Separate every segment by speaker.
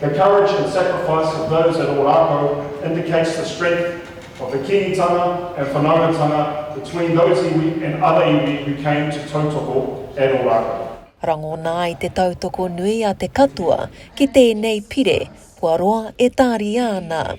Speaker 1: The courage and sacrifice of those at Ōrākau indicates the strength of the Kīngitanga and whanaungatanga between those iwi and other iwi who came to tautoko at Ōrākau. Rangona ai te tautoko nui a te katoa ki tēnei pire kua roa e tāria ana.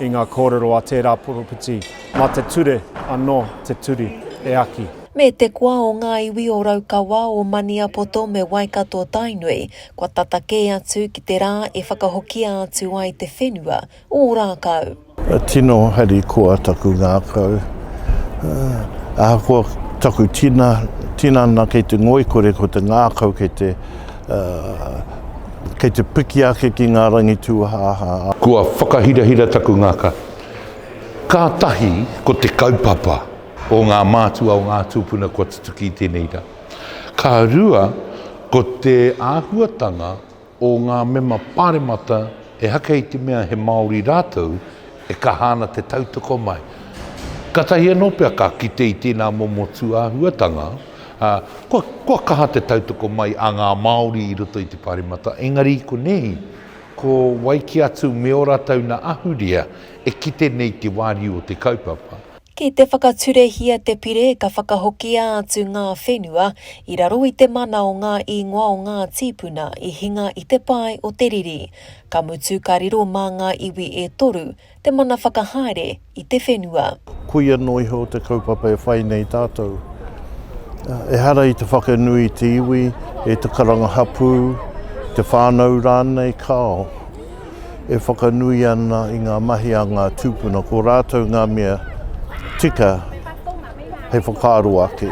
Speaker 1: I ngā kōrero a tērā poropiti, mā te ture anō te turi e aki. Me te koa o ngā iwi o Raukawa, o Maniapoto me Waikato-Tainui, kua tata kē atu ki te rā e whakahokia atu ai te whenua o Ōrākau. Tino harikoa taku ngākau. Ahakoa taku tinana kei te ngoikore ko te ngākau kei te. kei te piki ake ki ngā rangi tūhāhā a. Kua whakahirahira taku ngaka. Kātahi ko te kaupapa o ngā mātua o ngā tūpuna kua tutuki i tēnei rā. Ka rua, ko te āhuatanga o ngā mema pāremata e haka i te mea he Māori rātou, E kaha ana te tautoko mai. Katahi anō pea ka kite i tēnā momo tūāhuatanga, ā, kua, kua kaha te tautoko mai a ngā Māori i roto i te Pāremata, engari i konei, ko wai kē atu me ō rātou nā ahurea e kite nei te wāriu o te kaupapa. Ki te whakaturehia te pire ka whakahokia atu ngā whenua i raro i te mana o ngā īngoa o ngā tīpuna i hinga i te pae o te riri. Ka mutu ka riro mā ngā iwi e toru te mana whakahaere i te whenua. Koia noa iho te kaupapa e whai nei tātou. Ehara i te whakanui i te iwi, i te karanga hapū, i te whānau rānei, kāo, e whakanui ana i ngā mahi a ngā tūpuna, ko rātou ngā mea tika hei whakaaro ake.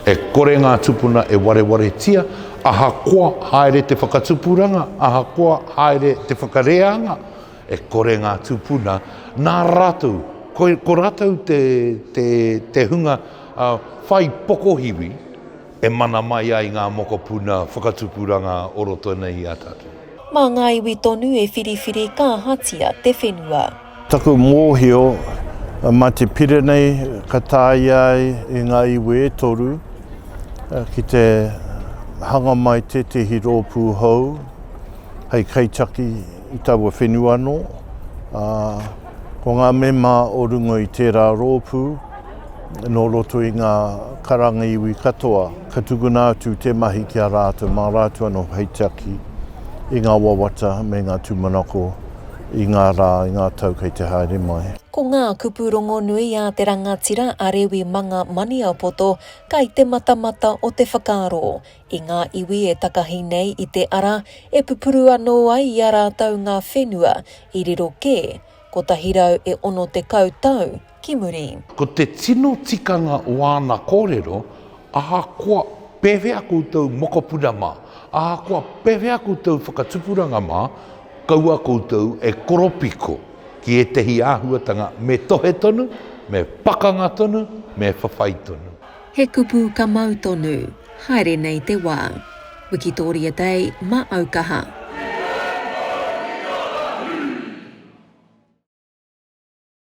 Speaker 1: E kore ngā tūpuna e warewaretia Ahakoa haere te whakatupuranga, ahakoa haere te whakareanga, e kore ngā tūpuna, nā rātou, ko rātou te hunga whai pokohiwi e mana mai ai ngā mokopuna whakatupuranga o roto nei i a tātou. Mā ngā iwi tonu e whiriwhiri kāhatia te whenua. Taku mōhio, mā te pire nei ka tāia ai e ngā iwi e toru ki te hanga mai tētehi rōpū hou hei kaitaki i taua whenua anō. Ā, ko ngā mema o runga i tērā rōpū, nō roto i ngā karanga iwi katoa, ka tukuna atu te mahi ki a rātou mā rātou anō hei tiaki i ngā wawata me ngā tūmanako. I ngā rā, i ngā tau kei te haere mai. Ko ngā kupu rongonui a te rangatira a Rewi Manga Maniapoto kai te matamata o te whakaaro i ngā iwi e takahi nei i te ara e pupuru anō ai i a rātou ngā whenua i riro kē 160 tau ki muri. Ko te tino tikanga o āna kōrero, ahakoa pēwhea koutou mokopuna mā, ahakoa pēwhea koutou whakatupuranga mā, kaua koutou e koropiko ki ētehi āhuatanga me tohe tonu, me pakanga tonu, me whawhai tonu. He kupu ka mau tonu. Haere nei te wā. Wikitoria Day ma au kaha.